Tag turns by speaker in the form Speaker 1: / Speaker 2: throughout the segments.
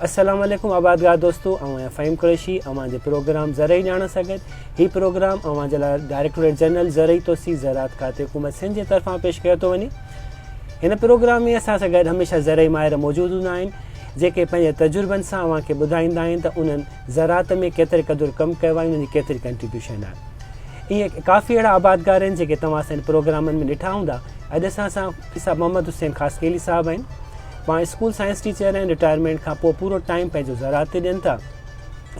Speaker 1: السلام عليڪم آبادگار دوستو آئون آهيان فهيم قريشي اوهان جي پروگرام زرعي ڄاڻ سان گڏ هي پروگرام اوهان جي لاء ڊائريڪٽوريٽ جنرل زرعي توسيع زراعت کاتي حڪومت سنڌ جي طرفان پيش ڪيو ٿو وڃي هن پروگرام ۾ اسان سان گڏ هميشه زرعي ماهر موجود هوندا آهن جيڪي پنهنجي تجربن سان اوهان کي ٻڌائيندا آهن ته انهن زراعت ۾ ڪيتري قدر ڪم ڪيو آهي انهن جي ڪيتري ڪنٽريبيوشن آهي ائين ڪافي اهڙا آبادگار آهن جيڪي توهان اسان جي پروگرامن ۾ ڏٺا هوندا اڄ اسان سان مفتي صاحب محمد حسين خاصخيلي صاحب آهن پاڻ اسڪول سائنس ٽيچر آهن رٽائرمينٽ کان پوء پورو ٽائيم پنهنجو زراعت تي ڏين ٿا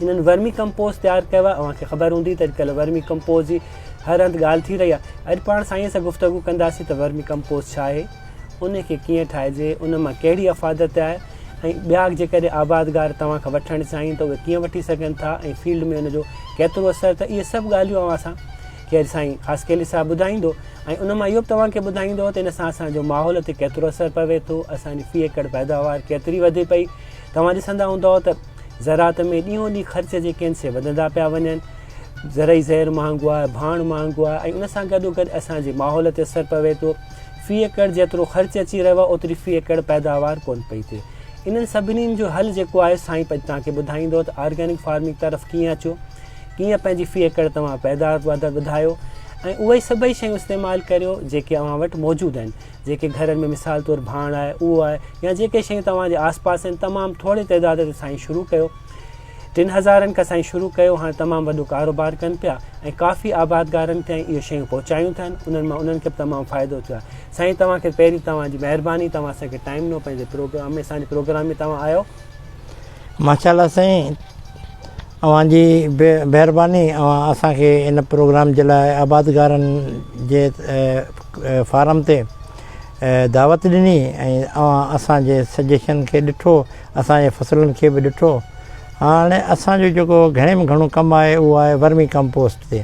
Speaker 1: انهن ورمي ڪمپوز تيار ڪيو آهي اوهان کي خبر هوندي ته اڄڪلهه ورمي ڪمپوز جي هر هنڌ ڳالهه ٿي رهي آهي اڄ پاڻ سائين سان گفتگو ڪنداسين ته ورمي ڪمپوز ڇا آهي ان کي ڪيئن ٺاهجي، ان مان ڪهڙي افادت آهي ۽ ٻيا جيڪڏهن آبادگار توهان کان وٺڻ چاهين ته اهي ڪيئن وٺي سگهن ٿا ۽ فيلڊ ۾ ان جو ڪيترو اثر ته اهي سڀ ڳالهيون اوهان سان کي اڄ سائين خاصخيلي صاحب ٻڌائيندو ۽ ان مان اهو به توهان کي ٻڌائيندو ته ان سان اسان جو ماحول تي ڪيترو اثر پوي ٿو اسان جي في ايڪڙ پيداوار ڪيتري وڌي پئي توهان ڏسندا هوندؤ ته زراعت ۾ ڏينهون ڏينهن خرچ جيڪي آهن سي وڌندا پيا وڃن زرعي زهر مهانگو آهي ڀاڻ مهانگو آهي ۽ ان سان گڏو گڏ اسان جي ماحول تي اثر پوي ٿو في ايڪڙ جيترو خرچ اچي رهيو آهي اوتري في ايڪڙ پيداوار ڪونه پئي ٿئي انهن سڀني جو حل جيڪو آهي سائين پڄ توهان کي ٻڌائيندو ته آرگينڪ فارمنگ طرف ڪيئن اچو ڪيئن پنهنجي في ايڪڙ توهان پيداوار وڌايو ۽ اهي سڀئي شيون استعمال ڪريو جيڪي اوهان وٽ موجود آهن جيڪي گهرن ۾ مثال طور ڀاڻ آهي اهو آهي يا جيڪي شيون توهان جي آس پاس آهن تمام ٿوري تعداد تي سائين شروع ڪيو ٽن هزارن ڪسائين شروع ڪيو هاڻ تمام وڏو ڪاروبار ڪن پيا ۽ ڪافي آبادگارن تائين اهي شيون پهچايون اٿن انهن مان انهن کي به تمام فائدو ٿيو آهي سائين توهان کي پهرين توهان جي مهرباني توهان اسان کي ٽائيم ڏنو پنهنجي پروگرام ۾ اسان جي پروگرام ۾ توهان آيو ماشاء
Speaker 2: الله سائين اوهان جي به مهرباني اوهان اسان کي ان پروگرام جي لاء آبادگارن جي فارم تي دعوت ڏني ۽ اوهان اسان جي سجيشن کي ڏٺو اسان جي فصلن کي به ڏٺو. هاڻ اسان جو جيڪو گهڻي ۾ گهڻو ڪم آهي اهو آهي ورمي ڪمپوسٽ تي.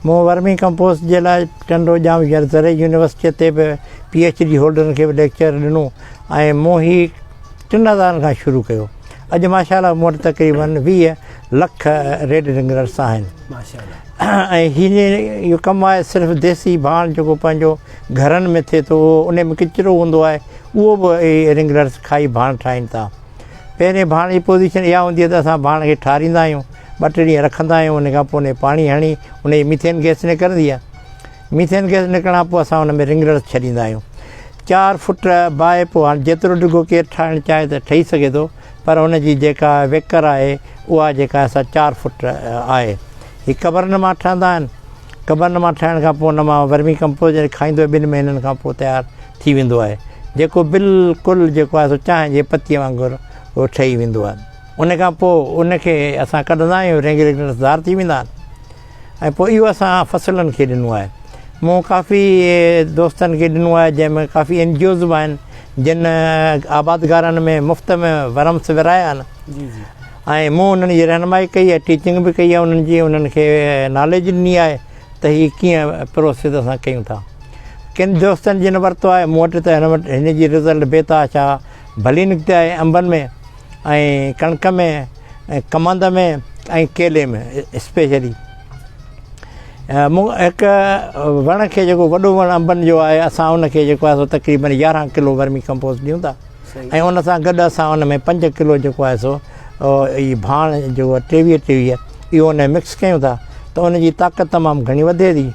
Speaker 2: مون ورمي ڪمپوسٽ جي لاء ٽنڊو ڄام ۽ زرعي يونيورسٽيء تي به پي ايڇ ڊي هولڊرن کي به ليڪچر ڏنو ۽ مون هي ٽن هزارن کان شروع ڪيو. اڄ ماشاءالله مون وٽ تقريبن ويهه لک ريڊ رنگرڊس آهن ۽ هي اهو ڪم آهي صرف ديسي ڀاڻ جيڪو پنهنجو گهرن ۾ ٿئي ٿو انهي ۾ ڪچرو هوندو آهي اهو به اهي رنگرلس کائي ڀاڻ ٺاهين ٿا پهرين ڀاڻ جي پوزيشن اها هوندي آهي ته اسان ڀاڻ کي ٺاريندا آهيون ٻه ٽي ڏينهن رکندا آهيون انهي کان پوء انهي پاڻي هڻي انهي جي ميٿين گئس نڪرندي آهي ميٿين گئس نڪرڻ کان پوء اسان ان ۾ رنگرلس ڇڏيندا آهيون چار فٽ باهه پوء هاڻي جيترو ڊگهو ڪير ٺاهڻ چاهي ته ٺهي سگهي ٿو پر ان جي جيڪا ويڪر آهي اها جيڪا سا چار فٽ آهي هي قبرن مان ٺهندا آهن قبر نما ٺهڻ کان پوء نما ورمي ڪمپوز جڏهن کائيندو ٻن مهينن کان پوء تيار ٿي ويندو آهي جيڪو بلڪل جيڪو آهي سو چانهه جي پتيء وانگر اهو ٺهي ويندو آهي ان کان پوء ان کي اسان ڪڍندا آهيون رينگ ريگنس دار ٿي ويندا آهن ۽ پوء اهو اسان فصلن کي ڏنو آهي مون ڪافي دوستن کي ڏنو آهي جنهن ۾ ڪافي اين جي اوز به آهن جن آبادگارن ۾ مفت ۾ ورمس ورايا آهن جي جي ۽ مون انهن جي رهنمائي ڪئي ۽ ٽيچنگ به ڪئي انهن جي انهن کي ناليج ڏني آهي ته هي ڪيئن پروسيس اسان ڪيون ٿا ڪن دوستن جن ورتو آهي مون وٽ ته هن وٽ هن جي رزلٽ بيتحاشا ڀلي نڪتي آهي انبن ۾ ۽ ڪڻڪ ۾ ڪمند ۾ ۽ ڪيلي ۾ اسپيشلي مون هڪ وڻ کي جيڪو وڏو وڻ انبن جو آهي اسان ان کي جيڪو آهي تقريبن يارهن ڪلو ورمي ڪمپوز ڏيون ٿا ۽ ان سان گڏ اسان ان ۾ پنج ڪلو جيڪو آهي سو اهي ڀاڻ جو ٽيويهه ٽيويهه اهو ان ۾ مڪس ڪيون ٿا ته ان جي طاقت تمام گهڻي وڌي ٿي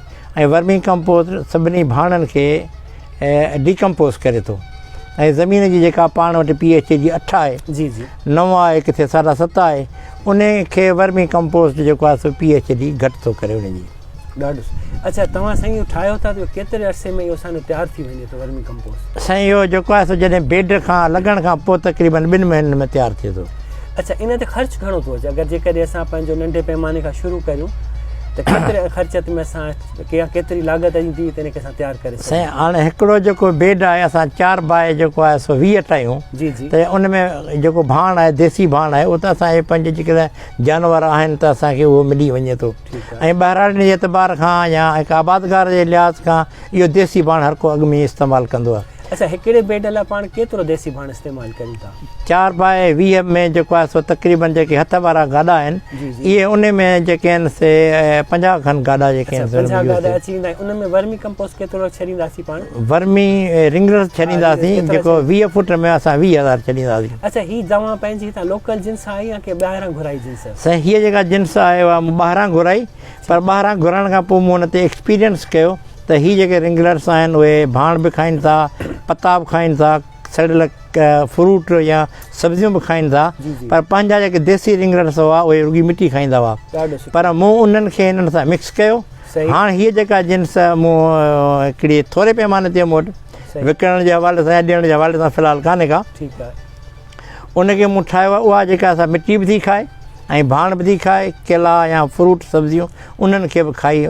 Speaker 2: ۽ ورمي ڪمپوز سڀني ڀاڻن کي ڊيڪمپوز ڪري ٿو ۽ زمين جي جيڪا پاڻ وٽ پي ايچ اي جي اٺ آهي جي جي نو آهي ڪٿي ساڍا ست آهي ان کي ورمي ڪمپوسٽ جيڪو آهي سو پي ايچ ڊي گهٽ ٿو ڪري ان جي ڏاڍو سٺو
Speaker 1: اچا توهان سائين اهو ٺاهيو ٿا ته ڪيتري عرصي ۾ اهو اسانو تيار ٿي وڃي ٿو ورمي ڪمپوسٽ سائين اهو جيڪو آهي سو
Speaker 2: جڏهن بيڊ کان لڳڻ کان پوء تقريبن ٻن مهينن ۾ تيار ٿئي ٿو اچا ان تي خرچ
Speaker 1: گهڻو ٿو اچي اگر جيڪڏهن اسان پنهنجو ننڍي پيماني کان شروع ڪريون ته ڪيتري خرچت ۾ اسان ڪيا ڪيتري لاڳت ايندي ته ان کي اسان تيار ڪري سائين سگهون هاڻي هڪڙو جيڪو
Speaker 2: بيڊ آهي اسان چار باء جيڪو آهي سو ويهه ٺاهيون جي جي ته ان ۾ جيڪو ڀاڻ آهي ديسي ڀاڻ آهي اهو ته اسان جي پنهنجي جيڪڏهن جانور آهن ته اسان کي اهو ملي وڃي ٿو ۽ ٻهراڙين جي اعتبار کان يا هڪ آبادگار جي لحاظ کان اهو ديسي ڀاڻ هر ڪو اڳ ۾ ئي استعمال ڪندو آهي. اسان
Speaker 1: هڪڙي بيڊ لاء پاڻ ڪيترو ديسي ڀاڻ استعمال ڪريون ٿا؟ چار باء ويهه
Speaker 2: ۾ جيڪو آهي سو تقريبن جيڪي هٿ وارا گاڏا آهن اهي ان ۾
Speaker 1: جيڪي
Speaker 2: آهن سي پنجاهه کن گاڏا جيڪي آهن سي پنجاهه گاڏا اچي ويندا آهن
Speaker 1: ان ۾ ورمي ڪمپوسٽ ڪيترو ڇڏينداسين پاڻ؟ ورمي
Speaker 2: رنگرز ڇڏينداسين جيڪو ويهه فوٽ ۾ اسان ويهه هزار ڇڏينداسين. اچا هي دوائن
Speaker 1: پنهنجي هتان لوڪل جنس آهي يا ڪنهن ٻاهران گهرائي جنس؟ سائين هيء جيڪا جنس
Speaker 2: آهي اها مون ٻاهران گهرائي پر ٻاهران گهرائڻ کان پوء مون ان تي ايڪسپيرينس ڪيو ته هي جيڪي رنگلرس آهن اهي ڀاڻ به کائين ٿا پتا به کائين ٿا سڙيل فروٽ يا سبزيون به کائين ٿا پر پنهنجا جيڪي ديسي رنگلرس هئا اهي رڳي مٽي کائيندا هئا پر مون انهن کي هنن سان مڪس ڪيو هاڻ هيء جيڪا جنس مون هڪڙي ٿوري پيماني تي مون وٽ وڪڻڻ جي حوالي سان يا ڏيڻ جي حوالي سان في الحال ڪانهي ڪا
Speaker 1: ان کي
Speaker 2: مون ٺاهيو آهي اها جيڪا سا مٽي به ٿي کائي ۽ ڀاڻ به ٿي کائي ڪيلا يا فروٽ سبزيون انهن کي به کائي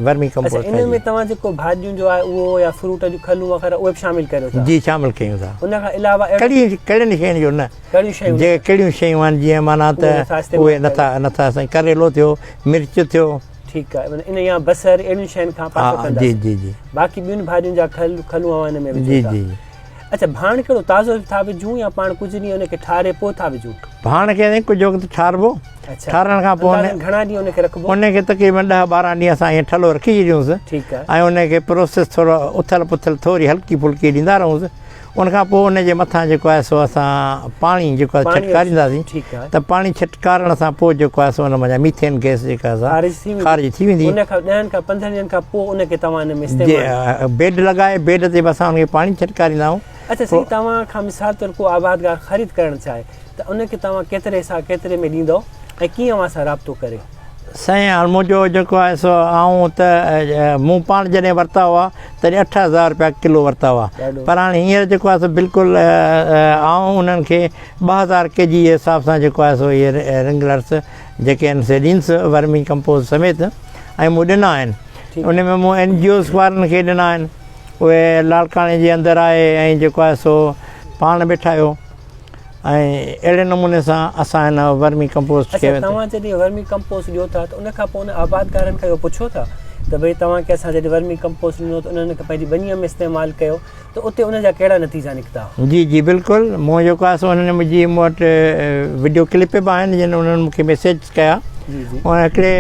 Speaker 2: ورمي ڪمپوسٽ اچا ان ۾ توهان جيڪو
Speaker 1: ڀاڄيون جو آهي اهو يا فروٽ جون کلون وغيره اهي به شامل ڪريو ٿا جي شامل ڪيون ٿا ان
Speaker 2: کان علاوه ڪهڙي
Speaker 1: ڪهڙين شين جو
Speaker 2: نه ڪهڙيون شيون جي ڪهڙيون شيون آهن جي معنيٰ ته اهي نه ٿا نه ٿا سائين ڪريلو ٿيو مرچ ٿيو ٺيڪ آهي ان
Speaker 1: يا بصر اهڙين شين کان پاسو ڪندا جي جي جي باقي
Speaker 2: ٻين ڀاڄين جا
Speaker 1: کل کلون اوهان ان ۾ جي جي
Speaker 2: اچھا ڀاڻ
Speaker 1: ڪھڙو تازو ٿا وجھون يا پاڻ ڪجھه ڏينهن ان کي ٺاري پوء ٿا وجھون. ڀاڻ کي سائين ڪجھه
Speaker 2: وقت ٺاربو ٺارڻ کان پوء ان گھڻا ڏينهن ان کي رکبو ان
Speaker 1: کي تقريبن ڏهه
Speaker 2: ٻارهن ڏينهن اسان ائين ٺلهو رکي ڇڏيونس ٺيڪ آ ۽ ان کي
Speaker 1: پروسيس
Speaker 2: ٿورو اٿل پٿل ٿوري هلڪي ڦلڪي ڏيندا رهونس ان کان پوء ان جي مٿان جيڪو آهي سو اسان پاڻي جيڪو آهي ڇٽڪاريندا سين ته پاڻي ڇٽڪاري ڪارڻ سان پوء جيڪو آهي سو ان مان جا ميٿين گئس جيڪا آهي سا خارج ٿي ويندي. ان کان ڏهن کان پندرهن
Speaker 1: ڏينهن کان پوء ان کي توهان ان ۾ استعمال. بيڊ لڳائي بيڊ
Speaker 2: تي به اسان ان کي پاڻي ڇٽڪاريندا آهيون. اچا سائين توهان
Speaker 1: کان مثال طور ڪو آبادگار خريد ڪرڻ چاهي ته ان کي توهان ڪيتري حساب ڪيتري ۾ ڏيندؤ ۽ ڪيئن اوهان سان رابطو ڪري. سائين هاڻ
Speaker 2: منهنجو جيڪو آهي سو آئون ته مون پاڻ جڏهن ورتا هئا تڏهن اٺ هزار رپيا ڪلو ورتا هئا پر هاڻ هينئر جيڪو آهي سو بلڪل آئون انهن کي ٻه هزار ڪي جي جي حساب سان جيڪو آهي سو اهي رنگلرس جيڪي آهن سي ڏينس ورمي ڪمپوز سميت ۽ مون ڏنا آهن ان ۾ مون اين جي اوز وارن کي ڏنا آهن اهي لاڙڪاڻي جي اندر آهي ۽ جيڪو آهي سو پاڻ به ٺاهيو ۽ اهڙي نموني سان اسان هن ورمي ڪمپوز کي توهان جڏهن ورمي
Speaker 1: ڪمپوز ڏيو ٿا ته ان کان پوء ان آبادگارن کان اهو پڇو ٿا ته ڀئي توهان کي اسان جڏهن ورمي ڪمپوز ڏنو ته انهن کي پنهنجي ٻنيء ۾ استعمال ڪيو ته اتي ان جا ڪهڙا نتيجا نڪتا؟ جي جي بلڪل
Speaker 2: مون جيڪو آهي سو انهن مون جي مون وٽ وڊيو ڪلپ به آهن جن انهن مون کي ميسيج ڪيا ۽ هڪڙي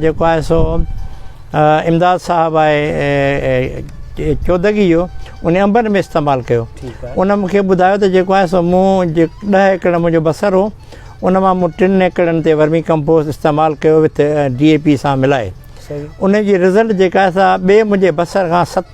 Speaker 2: جيڪو آهي سو امداد صاحب آهي چودگي جو ان انبن ۾ استعمال ڪيو ان مون کي ٻڌايو ته جيڪو آهي سو مون جي ڏهه ايڪڙ منهنجو بصر هو ان مان مون ٽن ايڪڙن تي ورمي ڪمپوز استعمال ڪيو وٿ ڊي اي پي سان ملائي ان جي رزلٽ جيڪا آهي سا ٻئي منهنجي بصر کان ست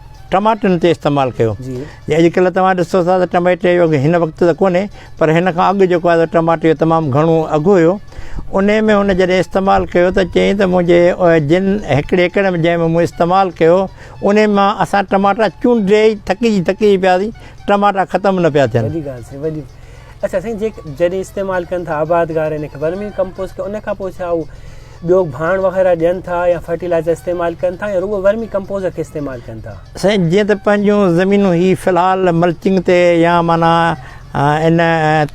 Speaker 2: ٽماٽن تي استعمال ڪيو جي اڄ ڪلهه توهان ڏسو ٿا ته ٽماٽي جو هن وقت ته ڪونهي پر هن کان اڳ جيڪو آهي ٽماٽي جو تمام گهڻو اگهه هيو ان ۾ هن جڏهن استعمال ڪيو ته چيائين ته منهنجي جن هڪڙي ايڪڙ ۾ جنهن ۾ مون استعمال ڪيو ان مان اسان ٽماٽا چونڊي ٿڪجي ٿڪجي پياسي ٽماٽا ختم نه پيا ٿين وڏي ڳالهه سائين وڏي اچھا سائين جي
Speaker 1: جڏهن استعمال ڪن ٿا آبادگار ان کي ورمي ڪمپوز کي ان کان پوء ڇا هو ٻيو ڀاڻ وغيره ڏين ٿا يا فرٽيلائزر استعمال ڪن ٿا يا رڳو ورمي ڪمپوزر کي استعمال ڪن ٿا. سائين جيئن ته پنهنجون
Speaker 2: زمينون هي في الحال ملچنگ تي يا معنيٰ ان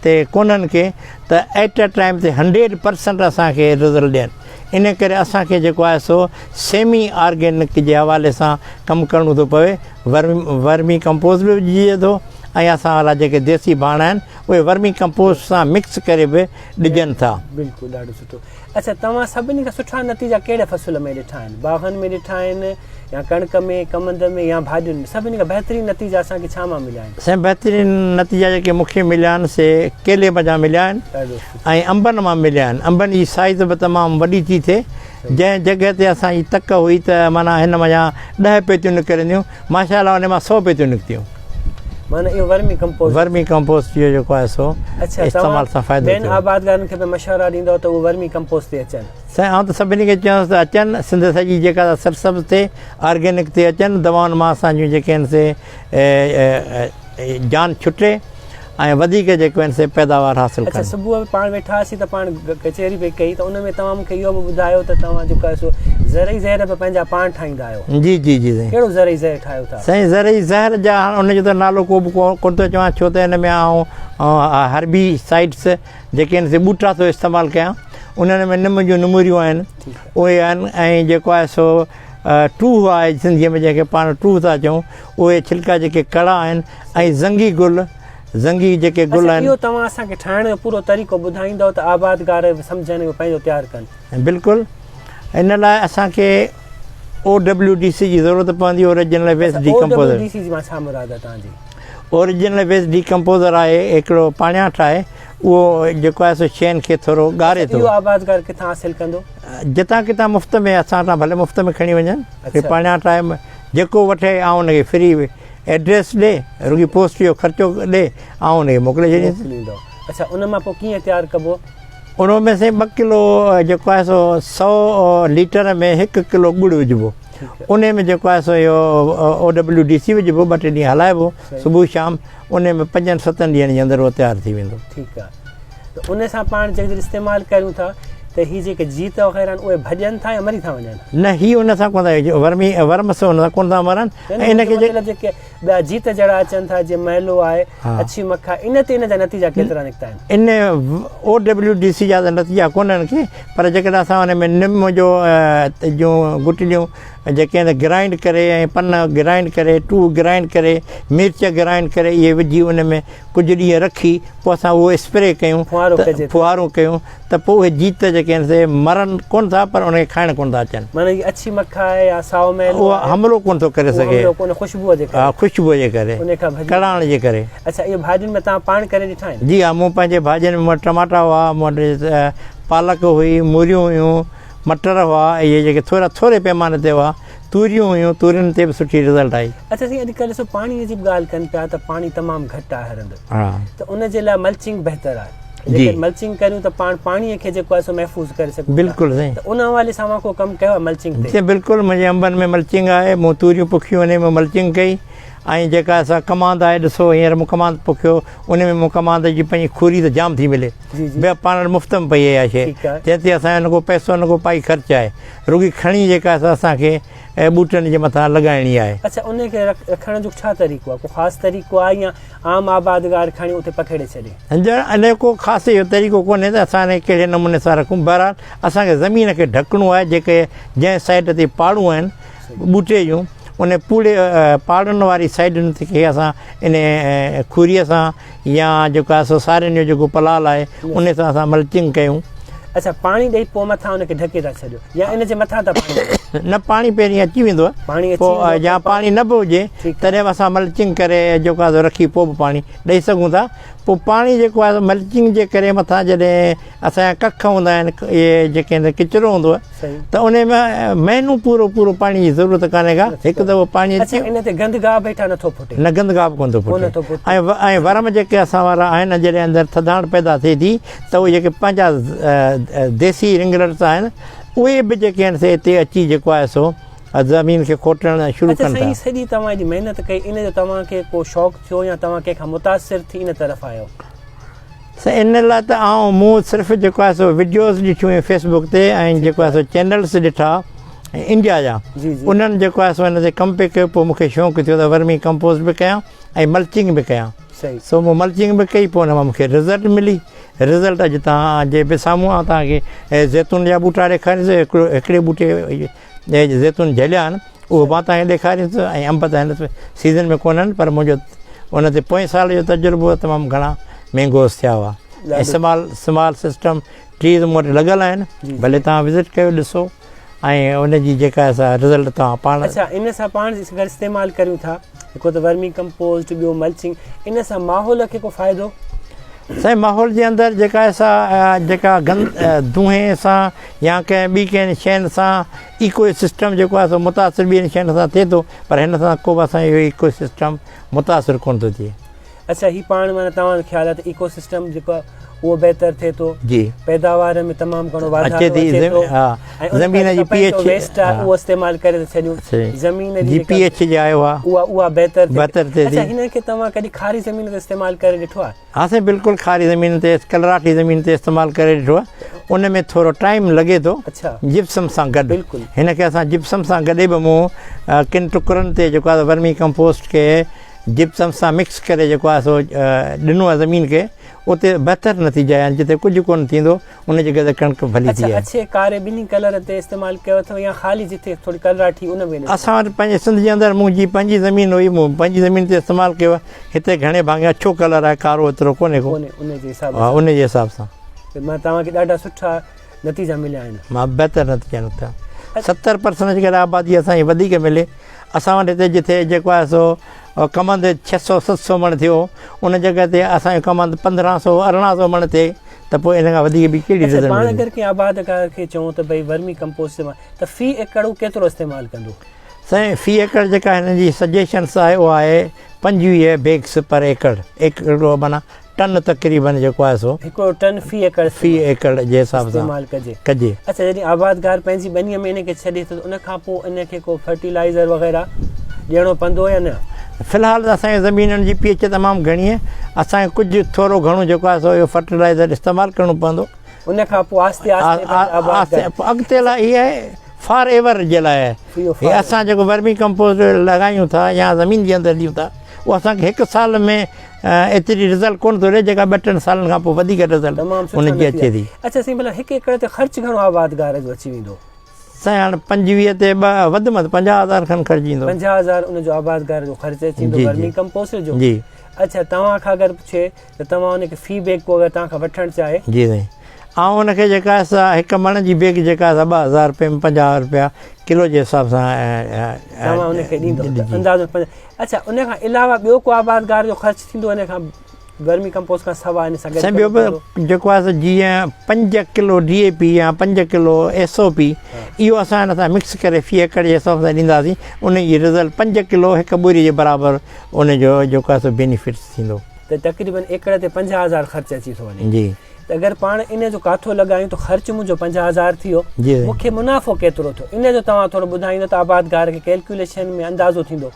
Speaker 2: تي ڪونهن ڪي ته ائٽ اي ٽائيم تي هنڊريڊ پرسنٽ اسان کي رزلٽ ڏين انهي ڪري اسان کي جيڪو آهي سو سيمي آرگينڪ جي حوالي سان ڪم ڪرڻو ٿو پوي ورمي ڪمپوز به وجهجي ٿو ۽ اسان والا جيڪي ديسي ڀاڻ آهن اهي ورمي ڪمپوز سان مڪس ڪري به ڏجن ٿا. بلڪل ڏاڍو سٺو
Speaker 1: اڇا توهان سڀني کان سٺا نتيجا ڪهڙي فصل ۾ ڏٺا آهن باغن ۾ ڏٺا آهن يا ڪڻڪ ۾ ڪمند ۾ يا ڀاڄين ۾ سڀني کان بهترين نتيجا اسان کي ڇا مان مليا آهن. سائين بهترين نتيجا
Speaker 2: جيڪي مون کي مليا آهن سي ڪيلي منجهان مليا آهن ۽ انبن مان مليا آهن انبن جي سائيز به تمام وڏي ٿي ٿئي جنهن جڳهه تي اسان جي تڪ هئي ته معنيٰ هن منجهان ڏهه پيتيون نڪرنديون ماشاء الله ان مان سو پيتيون نڪتيون. معنيٰ اهو
Speaker 1: ورمي ڪمپوسٽ. ورمي ڪمپوسٽ جو
Speaker 2: جيڪو آهي سو استعمال سان فائدو ٿيو. ٻين آبادگارن کي به
Speaker 1: مشورا ڏيندؤ ته اهو ورمي ڪمپوسٽ تي اچن. سائين آئون ته سڀني کي
Speaker 2: چوانس ته اچن سنڌ سڄي جيڪا ته سرسبز ٿئي آرگينڪ تي اچن دوائن مان اسان جون جيڪي آهن سي جان ڇٽي. ۽ وڌيڪ جي ڪوين سي پيداوار حاصل ڪن. اچا صبح ۾ پاڻ ويٺا هئاسين
Speaker 1: ته پاڻ ڪچهري پئي ڪئي ته ان ۾ توهان مونکي اهو به ٻڌايو ته توهان جيڪو آهي سو زرعي زهر به پنهنجا پاڻ ٺاهيندا آهيو. جي جي جي سائين. ڪهڙو
Speaker 2: زرعي زهر ٺاهيو ٿا؟
Speaker 1: سائين زرعي زهر جا
Speaker 2: هاڻ ان جو ته نالو ڪو به ڪون ٿو چوان ڇو ته ان ۾ آئون هربي سائيڊس جيڪي آهن سي ٻوٽا ٿو استعمال ڪيان انهن ۾ نم جون نموريون آهن اهي آهن ۽ جيڪو آهي سو ٽوهه آهي سنڌي ۾ جنهن کي پاڻ ٽوهه ٿا چئون اهي ڇلڪا جيڪي ڪڙا آهن ۽ زنگي گل، زنگي جيڪي گل آهن. اڇا اهو توهان اسان کي ٺاهڻ
Speaker 1: جو پورو طريقو ٻڌائيندؤ ته آبادگار به سمجهن ۽ پنهنجو تيار ڪن. بلڪل
Speaker 2: ان لاء اسان کي او ڊبليو ڊي سي جي ضرورت پوندي original waste decomposer O W D C مان ڇا مراد
Speaker 1: آهي توهان جي. Original
Speaker 2: waste decomposer هڪڙو پاڻياٺ آهي اهو جيڪو آهي سو شين کي ٿورو ڳاري ٿو. اهو آبادگار ڪٿان حاصل
Speaker 1: ڪندو. جتان ڪٿان مفت
Speaker 2: ۾ اسان وٽان ڀلي مفت ۾ کڻي وڃن. اڇا. پاڻياٺ آهي جيڪو وٺي آئون ان کي فري ايڊريس ڏي رڳي پوسٽ جو خرچو ڏي آئون ان کي موڪلي ڇڏينس. اڇا ان
Speaker 1: مان پوء ڪيئن تيار ڪبو. ان ۾ سائين
Speaker 2: ٻه ڪلو جيڪو آهي سو سؤ ليٽر ۾ هڪ ڪلو ڳڙ وجهبو انهي ۾ جيڪو آهي سو اهو او ڊبليو ڊي سي وجهبو ٻه ٽي ڏينهن هلائبو صبح شام انهي ۾ پنجن ستن ڏينهن جي اندر اهو تيار ٿي ويندو ٺيڪ آهي
Speaker 1: ته انهي سان پاڻ جيڪڏهن استعمال ڪريون ٿا ته هي جيڪي جيت وغيره آهن اهي ڀڄن ٿا يا مري ٿا وڃن نه هي ان سان ڪونه
Speaker 2: ورمي ورم سان ڪونه ٿا مرن ان کي جيڪي جيڪي ٻيا
Speaker 1: جيت جهڙا اچن ٿا جي مهلو آهي اڇي مکا ان تي ان جا نتيجا ڪيترا نڪتا آهن ان او
Speaker 2: ڊبليو ڊي سي جا نتيجا ڪون آهن کي پر جيڪڏهن اسان ان ۾ نم جو جو گٽليون جيڪي آهن گرائنڊ ڪري ۽ پن گرائنڊ ڪري ٽو گرائنڊ ڪري مرچ گرائنڊ ڪري اهي وجهي ان ۾ ڪجهه ڏينهن رکي پوء اسان اهو اسپري ڪيون ڦوهارو ڪيون ته پوء اهي جيت جيڪي آهن سي مرن ڪونه ٿا پر ان کي کائڻ ڪونه ٿا اچن. معنيٰ جيڪي اڇي مک
Speaker 1: آهي يا سائو مئلو اهو آهي. حملو ڪونه ٿو ڪري
Speaker 2: اهو سگهي. حملو ڪونه خوشبوء جي ڪري. ها
Speaker 1: خوشبوء جي ڪري.
Speaker 2: انهي کان ڀڄي. ڪڙاڻ جي ڪري. اڇا اهي ڀاڄين ۾ توهان
Speaker 1: پاڻ ڪري ڏٺا آهن؟ جي ها مون پنهنجي ڀاڄين
Speaker 2: ۾ مون وٽ ٽماٽا هئا، مون وٽ پالڪ هئي، موريون هيون، مٽر هئا اهي جيڪي ٿورا ٿوري پيماني تي هئا، توريون هيون تورين تي به سٺي رزلٽ آئي. اڇا سائين اڄ ڪلهه ڏسو
Speaker 1: پاڻي جي به ڳالهه ڪن پيا ته پاڻي تمام گهٽ آهي هر هنڌ. ها. ته ان جي
Speaker 2: لاء
Speaker 1: ملچنگ بهتر آهي. جيڪڏهن ملچنگ ڪريون ته پاڻ پاڻي کي جيڪو آهي سو محفوظ ڪري سگهون بلڪل سائين ته ان حوالي
Speaker 2: سان اوهان ڪو
Speaker 1: ڪم ڪيو آهي ملچنگ تي بلڪل منهنجي انبن ۾
Speaker 2: ملچنگ آهي مون توريون پوکيون انهي ۾ ملچنگ ڪئي ۽ جيڪا اسان ڪماند آهي ڏسو هينئر مون ڪماند پوکيو انهي ۾ مون ڪماند جي پنهنجي کوري ته جام ٿي ملي بيا پاڻ وٽ مفت ۾ پئي آهي اها شيء جنهن تي اسان جو نه ڪو پئسو نه ڪو پائي خرچ آهي رڳي کڻي جيڪا اسان کي ۽ ٻوٽن جي مٿان لڳائڻي آهي. اڇا انهي کي
Speaker 1: رکڻ جو ڇا طريقو آهي ڪو خاص طريقو آهي يا عام آبادگار کڻي اتي پکيڙي ڇڏي. جنرل انهي ڪو
Speaker 2: خاص اهو طريقو ڪونهي ته اسان انهي کي ڪهڙي نموني سان رکون بهرحال اسان کي زمين کي ڍڪڻو آهي جيڪي جنهن سائيڊ تي پاڙون آهن ٻوٽي جون انهي پوڙي پاڙن واري سائيڊن کي اسان انهي کوري سان يا جيڪو آهي سو سارين جو جيڪو پلال آهي ان سان اسان ملچنگ ڪيون. اڇا پاڻي
Speaker 1: ڏئي پوء مٿان ان کي ڍڪي ٿا ڇڏيو يا ان جي مٿان ٿا پاڻي ڏيو؟ نه پاڻي پهرين اچي
Speaker 2: ويندو پاڻي پوء يا پاڻي نه به هجي تڏهن به اسان ملچنگ ڪري جيڪو آهي سو رکي پوء به پاڻي ڏئي سگهون ٿا پوء پاڻي جيڪو آهي سو ملچنگ جي ڪري مٿان جڏهن اسان جا ڪک هوندا آهن اهي جيڪي ڪچرو هوندو آهي ته انهي ۾ مهينو پورو پورو پاڻي جي ضرورت ڪانهي ڪا هڪ دفعو پاڻي اچي اڇا ان تي گند گاهه به هيٺان
Speaker 1: نٿو ڦٽي نه گند گاهه به ڪونه ٿو ڦٽي ڪونه ٿو
Speaker 2: ڦٽي ۽ ورم جيڪي اسان وارا آهن جڏهن اندر ٿڌاڻ پيدا ٿئي ٿي ته اهي جيڪي پنهنجا ديسي رنگرٽس آهن اهي به جيڪي آهن سي اتي اچي جيڪو آهي سو زمين کي کوٽڻ شروع ڪن ٿا اڇا سائين سڄي توهان جي محنت
Speaker 1: ڪئي ان جو توهان کي ڪو شوق ٿيو يا توهان ڪنهن کان متاثر ٿي ان طرف آيو سائين
Speaker 2: ان لاء ته آئون مون صرف جيڪو آهي سو وڊيوز ڏٺيون هيون فيس بڪ تي ۽ جيڪو آهي سو چينلز ڏٺا انڊيا جا انهن جيڪو آهي سو هن تي ڪمپي ڪيو پوء مونکي شونق ٿيو ته ورمي ڪمپوز به ڪيان ۽ ملچنگ به ڪيان سو مون ملچنگ به ڪئي پوء ان مان مونکي رزلٽ ملي رزلٽ اڄ تان جي به سامهون آ تان کي زيتون جا ٻوٽا ڏيکاريس هڪڙي ٻوٽي جنهن جي زيتون جهليا آهن، اهو مان توهان کي ڏيکاريان ٿو ۽ انب ته هن سيزن ۾ ڪونهن، پر منهنجو ان تي پوئين سال جو تجربو هو، تمام گهڻا مينگوز ٿيا هئا ۽ سمال سمال سسٽم ٽريز مون وٽ لڳل آهن، ڀلي توهان وزٽ ڪيو ڏسو ۽ ان جي جيڪا رزلٽ توهان پاڻ. اڇا ان سان پاڻ
Speaker 1: گڏ استعمال ڪريون ٿا. هڪ ته ورمي ڪمپوسٽ ٻيو ملچنگ ان سان ماحول کي ڪو فائدو؟ سائين ماحول جي اندر
Speaker 2: جيڪا سا جيڪا گند دونهي سان يا ڪنهن ٻي ڪنهن شين سان ايڪو سسٽم جيڪو آهي سو متاثر ٻين شين سان ٿئي ٿو پر هن سان ڪو به اسان جو ايڪو سسٽم
Speaker 1: متاثر
Speaker 2: ڪونه
Speaker 1: ٿو ٿئي اڇا هي پاڻ
Speaker 2: معنيٰ
Speaker 1: توهان جو خيال آهي
Speaker 2: ته
Speaker 1: ايڪو سسٽم جيڪو آهي اهو بهتر ٿئي ٿو جي پيداوار
Speaker 2: ۾ تمام
Speaker 1: گهڻو واڌارو اچي ٿي اچي ٿو زمين ها
Speaker 2: ۽ ان
Speaker 1: زمين ڪري جي
Speaker 2: پي
Speaker 1: ڪپهه جو ايڇ ويسٽ
Speaker 2: آهي
Speaker 1: ها
Speaker 2: اهو
Speaker 1: استعمال ڪري ٿا ڇڏيون صحيح زمين جي جي پي جيڪا ايڇ جي آيو ها اها
Speaker 2: اها بهتر ٿئي بهتر
Speaker 1: ٿئي ٿي اڇا هن
Speaker 2: کي توهان ڪڏهن کاري
Speaker 1: زمين تي استعمال ڪري ڏٺو آهي ها سائين بلڪل کاري
Speaker 2: زمين تي ڪلراٺي زمين تي استعمال ڪري ڏٺو آهي ان ۾ ٿورو ٽائيم لڳي ٿو اڇا جپسم سان
Speaker 1: گڏ
Speaker 2: بلڪل هن کي اسان
Speaker 1: جپسم
Speaker 2: سان گڏي به مون ڪن ٽڪرن تي جيڪو آهي ورمي ڪمپوسٽ کي جپسم سان مڪس ڪري جيڪو آهي سو ڏنو آهي زمين کي اتي بهتر نتيجا آيا آهن جتي ڪجهه ڪونه ٿيندو ان جي ڪري ڪڻڪ ڀلي ٿي آهي اڇي ڪاري
Speaker 1: ٻنهي
Speaker 2: ڪلر
Speaker 1: تي استعمال ڪيو اٿو يا خالي جتي ٿوري ڪلراٺي ان ۾ اسان وٽ پنهنجي سنڌ جي
Speaker 2: اندر منهنجي پنهنجي زمين هئي مون پنهنجي زمين تي استعمال ڪيو هتي گهڻي ڀاڱي اڇو ڪلر آهي ڪارو ايترو ڪونهي ڪو ان جي حساب سان
Speaker 1: ان جي حساب سان
Speaker 2: مان توهان کي ڏاڍا
Speaker 1: سٺا نتيجا مليا آهن. مان بهتر نتيجا
Speaker 2: نڪتا. ستر پرسنٽ جيڪڏهن آبادي اسان جي وڌيڪ ملي، اسان وٽ هتي جتي جيڪو آهي سو ڪمند ڇهه سؤ ست سؤ مڻ ٿيو، ان جڳهه تي اسان جو ڪمند پندرهن سؤ ارڙهن سؤ مڻ ٿئي ته پوء ان کان وڌيڪ ٻي ڪهڙي رزلٽ ملندو. پاڻ اگر ڪنهن
Speaker 1: آبادگار کي چئون ته ڀئي ورمي ڪمپوسٽ استعمال ته في ايڪڙ هو ڪيترو استعمال ڪندو؟ سائين في
Speaker 2: ايڪڙ جيڪا هن جي سجيشنس آهي اها آهي پنجويهه بيگس پر ايڪڙ ايڪڙ معنيٰ ٽن تقريبن جيڪو آهي سو. هڪڙو ٽن في ايڪڙ.
Speaker 1: في ايڪڙ جي
Speaker 2: حساب سان. استعمال ڪجي. ڪجي.
Speaker 1: اڇا جڏهن آبادگار
Speaker 2: پنهنجي
Speaker 1: ٻنيء ۾ ان کي ڇڏي ٿو ته ان کان پوء ان کي ڪو فرٽيلائيزر وغيره ڏيڻو پوندو يا نه؟ في الحال ته اسان کي
Speaker 2: زمينن جي پي ايڇ تمام گهڻي آهي. اسان کي ڪجهه ٿورو گهڻو جيڪو آهي سو اهو فرٽيلائيزر استعمال ڪرڻو پوندو. ان کان پوء آهستي
Speaker 1: آهستي آبادگار. آهستي اڳتي لاء هي
Speaker 2: آهي فار ايور جي لاء آهي. هي اسان جيڪو ورمي ڪمپوسٽ لڳايون ٿا يا زمين جي اندر ڏيون ٿا اهو اسان کي هڪ سال ۾ ايتري رزلٽ ڪونه ٿو ڏي جيڪا ٻه ٽن سالن کان پوء وڌيڪ رزلٽ ان جي اچي ٿي. اچا سائين ڀلا هڪ ايڪڙ
Speaker 1: تي خرچ گهڻو آبادگار جو اچي ويندو؟ سائين هاڻ
Speaker 2: پنجويهه تي ٻه وڌ ۾ وڌ پنجاهه هزار کن خرچ ايندو. پنجاهه هزار ان جو آبادگار
Speaker 1: جو خرچ اچي ويندو ورمي ڪمپوسٽ جو؟ جي. اچا
Speaker 2: توهان کان
Speaker 1: اگر پڇي ته توهان ان کي في بيگ ڪو اگر توهان کان وٺڻ چاهي؟ جي سائين
Speaker 2: آئون ان کي جيڪا آهي سا هڪ مڻ جي بيگ جيڪا آهي سا ٻه هزار رپين پنجاهه رپيا ڪلو جي حساب سان توهان ان
Speaker 1: کي ڏيندو اندازن. اڇا ان کان علاوه ٻيو ڪو آبادگار جو خرچ ٿيندو ان کان ورمي ڪمپوسٽ کان سوا ان سان گڏ سائين ٻيو به
Speaker 2: جيڪو آهي سو جيئن پنج ڪلو ڊي اي پي يا پنج ڪلو ايس او پي اهو اسان هن سان مڪس ڪري في ايڪڙ جي حساب سان ڏينداسين ان جي رزلٽ پنج ڪلو هڪ ٻوري جي برابر ان جو جيڪو آهي سو بينيفٽس ٿيندو ته تقريبن
Speaker 1: ايڪڙ تي پنجاهه هزار خرچ اچي ٿو وڃي جي ته اگر پاڻ
Speaker 2: ان
Speaker 1: جو ڪاٿو لڳايون ته خرچ منهنجو پنجاهه هزار ٿي ويو مونکي منافعو ڪيترو ٿيو ان جو توهان ٿورو ٻڌائيندو ته آبادگار کي ڪيلڪيوليشن ۾ اندازو ٿيندو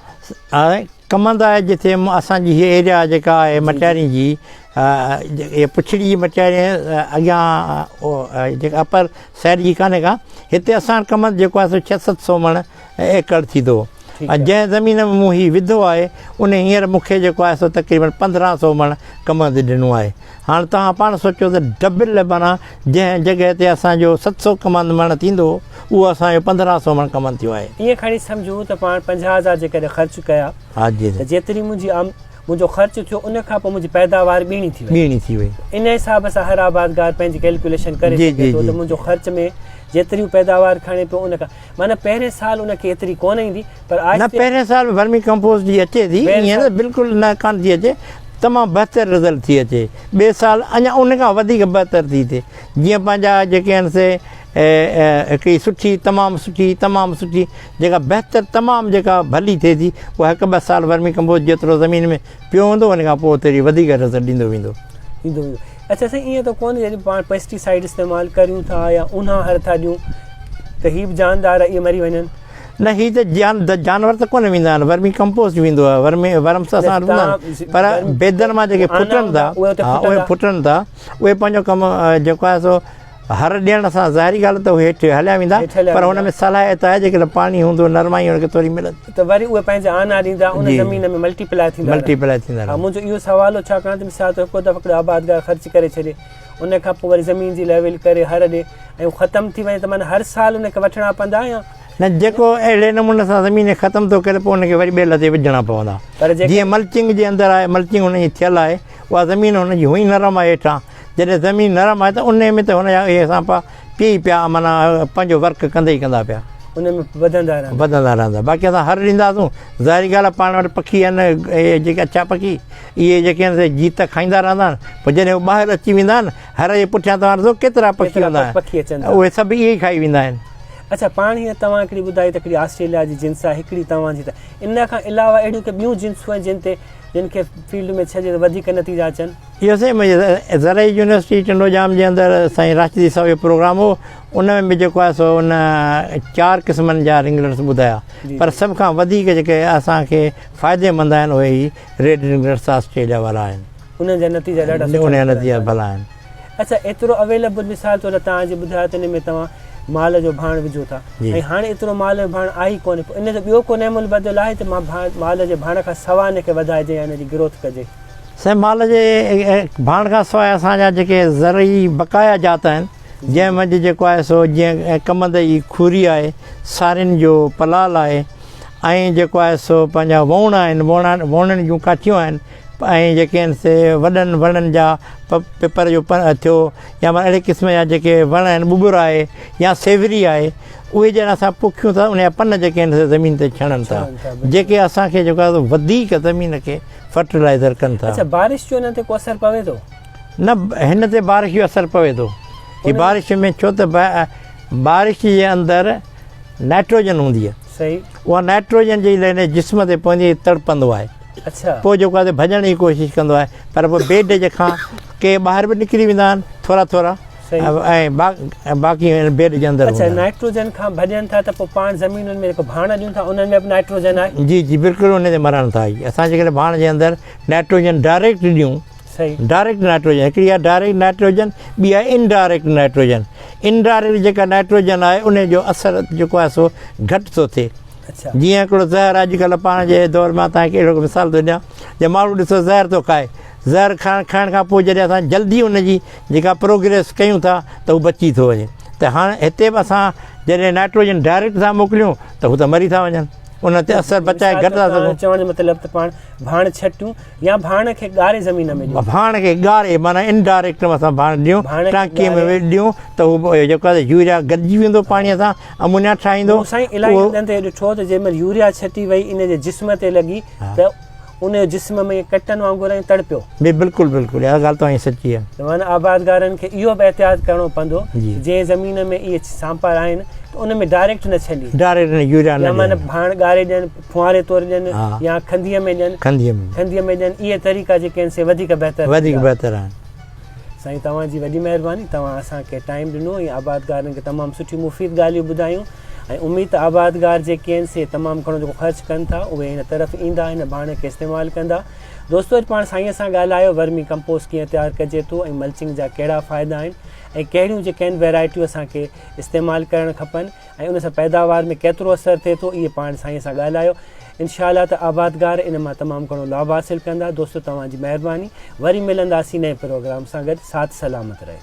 Speaker 1: ڪمند
Speaker 2: آهي جتي اسان جي هي ايريا جيڪا آهي مٽيارين جي اي پڇڙي جي مٽيارين اڳيان جيڪا اپر سائيڊ جي ڪانهي ڪا هتي اسان ڪمند جيڪو آهي سو ڇهه ست سو مڻ ايڪڙ ٿيندو ۽ جنهن زمين ۾ مون هي وڌو آهي ان هينئر مون کي جيڪو آهي سو تقريبن پندرهن سو مڻ ڪمند ڏنو آهي هاڻ توهان پاڻ سوچو ته ڊبل مانا جنهن جڳهه تي اسان جو ست سو ڪمند مڻ ٿيندو اهو اسان جو پندرهن سو مڻ ڪمند ٿيو آهي ائين کڻي سمجهون ته
Speaker 1: پاڻ پنجاهه هزار جيڪڏهن خرچ ڪيا ها جي ته جيتري
Speaker 2: منهنجي آم
Speaker 1: منهنجو خرچ ٿيو ان کان پوء منهنجي پيداوار ٻيڻي ٿي وئي ٻيڻي ٿي وئي ان حساب سان هر آبادگار پنهنجي ڪيلڪوليشن ڪري سگهي ٿو ته منهنجو خرچ ۾ جيتريون پيداوار کڻي پيو ان کان معنيٰ پهرين سال ان کي ايتري ڪونه ايندي پر آهستي. نه پهرين سال
Speaker 2: ورمي ڪمپوسٽ جي اچي ٿي ايئن نه بلڪل نه ڪانه ٿي اچي تمام بهتر رزلٽ ٿي اچي ٻئي سال اڃا ان کان وڌيڪ بهتر ٿي ٿئي جيئن پنهنجا جيڪي آهن سي هڪڙي سٺي تمام سٺي تمام سٺي جيڪا بهتر تمام جيڪا ڀلي ٿئي ٿي اها هڪ ٻه سال ورمي ڪمپوسٽ جيترو زمين ۾ پيو هوندو ان کان پوء تيري وڌيڪ نظر ڏيندو ويندو. ڏيندو ويندو اچا
Speaker 1: سائين ائين ته ڪونه جڏهن پاڻ پيسٽي سائيڊ استعمال ڪريون ٿا يا اونها هر ٿا ڏيون ته هي به جاندار اهي مري وڃن. نه هي ته
Speaker 2: جان جانور ته ڪونه ويندا آهن ورمي ڪمپوسٽ ويندو آهي ورمي ورمس اسان وٽ هوندا آهن پر بيدن مان جيڪي ڦٽن ٿا اهي ڦٽن ٿا اهي پنهنجو ڪم جيڪو آهي سو هر ڏيڻ سان ظاهري ڳالهه ته هو هيٺ هليا ويندا پر هن ۾ صلاحيت آهي جيڪڏهن پاڻي هوندو نرمائي هن کي ٿوري ملت ته وري اهي پنهنجا آنا
Speaker 1: ڏيندا ان زمين ۾ ملٽي پلاء ٿيندا ملٽي پلاء ٿيندا رهندا منهنجو اهو سوال هو ڇاڪاڻ ته مثال طور هڪ دفعو هڪڙو آبادگار خرچ ڪري ڇڏي ان کان پوء وري زمين جي ليول ڪري هر ڏي ۽ هو ختم ٿي وڃي ته معنيٰ هر سال ان کي وٺڻا پوندا يا نه جيڪو
Speaker 2: اهڙي نموني سان زمين ختم ٿو ڪري پوء ان کي وري ٻيل تي وجهڻا پوندا جيئن ملچنگ جي اندر آهي ملچنگ ان جي ٿيل آهي اها زمين هن جي هونئن نرم آهي هيٺان جڏهن زمين نرم آهي ته انهي ۾ ته هن جا اهي سانپا پئي پيا معنيٰ پنهنجو ورڪ ڪندا ئي ڪندا پيا. انهي ۾ وڌندا
Speaker 1: رهندا. وڌندا رهندا باقي
Speaker 2: اسان هر ڏينداسون ظاهري ڳالهه آهي پاڻ وٽ پکي آهن اهي جيڪي اڇا پکي اهي جيڪي آهن سي جيت ته کائيندا رهندا آهن پر جڏهن هو ٻاهر اچي ويندا آهن هر جي پٺيان توهان ڏسو ڪيترا پکي ڪيترا هوندا پکي آهن اچن ٿا. اهي سڀ اهي ئي کائي ويندا آهن. اڇا
Speaker 1: پاڻ هيئن توهان هڪڙي ٻڌائي ته هڪڙي آسٽريليا جي جنس آهي هڪڙي توهان جي ته ان کان علاوه اهڙيون ڪي ٻيون جنسون آهن جن تي جن کي فيلڊ ۾ ڇڏجي ته وڌيڪ نتيجا اچن. اهو سائين منهنجي
Speaker 2: زرعي يونيورسٽي ٽنڊو ڄام جي اندر سائين راشدي صاحب جو پروگرام هو ان ۾ به جيڪو آهي سو ان چار قسمن جا رنگلٽس ٻڌايا پر سڀ کان وڌيڪ جيڪي اسان کي فائدي مند آهن اهي هي ريڊ رنگلٽس آسٽريليا وارا آهن انهن جا نتيجا
Speaker 1: ڏاڍا سٺا نڪتا
Speaker 2: آهن. اچا ايترو
Speaker 1: اويليبل مثال طور تان جي ٻڌايو ته ان ۾ توهان مال جو ڀاڻ وجهو ٿا ۽ هاڻي ايترو مال جو ڀاڻ آهي ئي ڪونهي پوء ان جو ٻيو ڪو نعم البدل آهي ته مال جي ڀاڻ کان سوا ان کي وڌائجي يا ان جي گروٿ ڪجي. سائين مال جي
Speaker 2: ڀاڻ کان سواء اسان جا جيڪي زرعي بقايا جات آهن جنهن منجهه جيڪو آهي سو جيئن ڪمند جي کوري آهي سارين جو پلال آهي ۽ جيڪو آهي سو پنهنجا ووڻ آهن ووڻن جون ڪاٺيون آهن ۽ جيڪي آهن سي وڏن وڻن جا پ پپر جو پن ٿيو يا مان اهڙي قسم جا جيڪي وڻ آهن ٻٻر آهي يا سيوري آهي اهي جڏهن اسان پوکيون ٿا ان جا پن جيڪي آهن سي زمين تي ڇڻن ٿا جيڪي اسان کي جيڪو آهي وڌيڪ زمين کي فرٽيلائزر ڪن ٿا اچا بارش جو انهن تي
Speaker 1: ڪو
Speaker 2: اثر
Speaker 1: پوي ٿو نه هن تي بارش
Speaker 2: جو اثر پوي ٿو جي بارش ۾ ڇو ته بارش جي اندر نائٽروجن هوندي آهي صحيح اها
Speaker 1: نائٽروجن
Speaker 2: جي لهني جسم تي پوندي تڙپندو آهي پوء جيڪو آهي
Speaker 1: ڀڄڻ
Speaker 2: جي ڪوشش ڪندو آهي پر پوء بي ڊڄ کان ڪي ٻاهر به نڪري ويندا آهن ٿورا ٿورا ۽ باقي بي ڊڄ اندر هوندا آهن. نائٽروجن کان
Speaker 1: ڀڄن ٿا ته پوء پاڻ زمينن ۾ جيڪو ڀاڻ ڏيون ٿا انهن ۾ به نائٽروجن آهي. جي جي بلڪل انهي تي مرن
Speaker 2: ٿا اهي اسان جيڪڏهن ڀاڻ جي اندر نائٽروجن ڊائريڪٽ ڏيون ڊائريڪٽ
Speaker 1: نائٽروجن هڪڙي
Speaker 2: آهي ڊائريڪٽ نائٽروجن ٻي آهي ان ڊائريڪٽ نائٽروجن ان ڊائريڪٽ جيڪا نائٽروجن آهي انهي جو اثر جيڪو آهي سو گهٽ ٿو ٿئي جيئن هڪڙو
Speaker 1: زهر اڄ
Speaker 2: ڪلهه پاڻ جي دور مان توهان کي اهڙو هڪ مثال ٿو ڏيان جو ماڻهو ڏسو زهر ٿو کائي زهر کائڻ کائڻ کان پوء جڏهن اسان جلدي ان جي جيڪا پروگريس ڪيون ٿا ته هو بچي ٿو وڃي ته هاڻ هتي به اسان جڏهن نائٽروجن ڊائريڪٽ ٿا موڪليون ته هو ته مري ٿا وڃن ان تي اثر بچائي گهٽ ٿا سگهون چوڻ جو مطلب ته پاڻ
Speaker 1: ڀاڻ ڇٽيون يا ڀاڻ کي ڳاري زمين ۾ ڏيون. ڀاڻ کي ڳاري معنيٰ
Speaker 2: انڊائريڪٽ اسان ڀاڻ ڏيون ٽانڪي ۾ ڏيون ته هو جيڪو آهي يوريا گڏجي ويندو پاڻي سان امونيا ٺاهيندو. نو سائين الائي هنڌن تي
Speaker 1: ڏٺو ته جنهن مهل يوريا ڇٽي وئي ان جي جسم تي لڳي ته ان جو جسم ۾ ڪٽن وانگر ائين تڙپيو. جي بلڪل بلڪل اها
Speaker 2: ڳالهه توهان جي سچي آهي. ته معنيٰ آبادگارن
Speaker 1: کي اهو به احتياط ڪرڻو پوندو جنهن زمين ۾ اهي سانپار آهن ته ان ۾ ڊائريڪٽ نه ڇنڊين. ڊائريڪٽ يوريا نه ڏين. يا
Speaker 2: معنيٰ ڀاڻ ڳاري ڏين.
Speaker 1: ڦوهاري طور ڏين يا کنڌيء ۾ ڏين. کنڌيء ۾ ڏين. اهي طريقا جيڪي آهن سي وڌيڪ بهتر ٿيندا. وڌيڪ بهتر
Speaker 2: آهن. سائين
Speaker 1: توهان جي وڏي مهرباني توهان اسان کي ٽائيم ڏنو ۽ آبادگارن کي تمام سٺيون مفيد ڳالهيون ٻڌايون ۽ اميد ته آبادگار جيڪي آهن سي تمام گهڻو جيڪو خرچ ڪن ٿا اهي هن طرف ايندا هن ڀاڻ کي استعمال ڪندا دوستو اڄ پاڻ سائين سان ڳالهايو ورمي ڪمپوسٽ ڪيئن تيار ڪجي ٿو ۽ ملچنگ جا ڪهڙا فائدا آهن ۽ ڪهڙيون جيڪي آهن ويرائٽيون اسان کي استعمال ڪرڻ کپن. ۽ ان سان پيداوار ۾ ڪيترو اثر ٿئي ٿو اهي پاڻ سائين سان ڳالهايو انشاء الله ته آبادگار ان مان تمام گهڻو لاڀ حاصل ڪندا دوستو توهان جي مهرباني وري ملنداسين نئين پروگرام سان گڏ ساٿ سلامت رهي.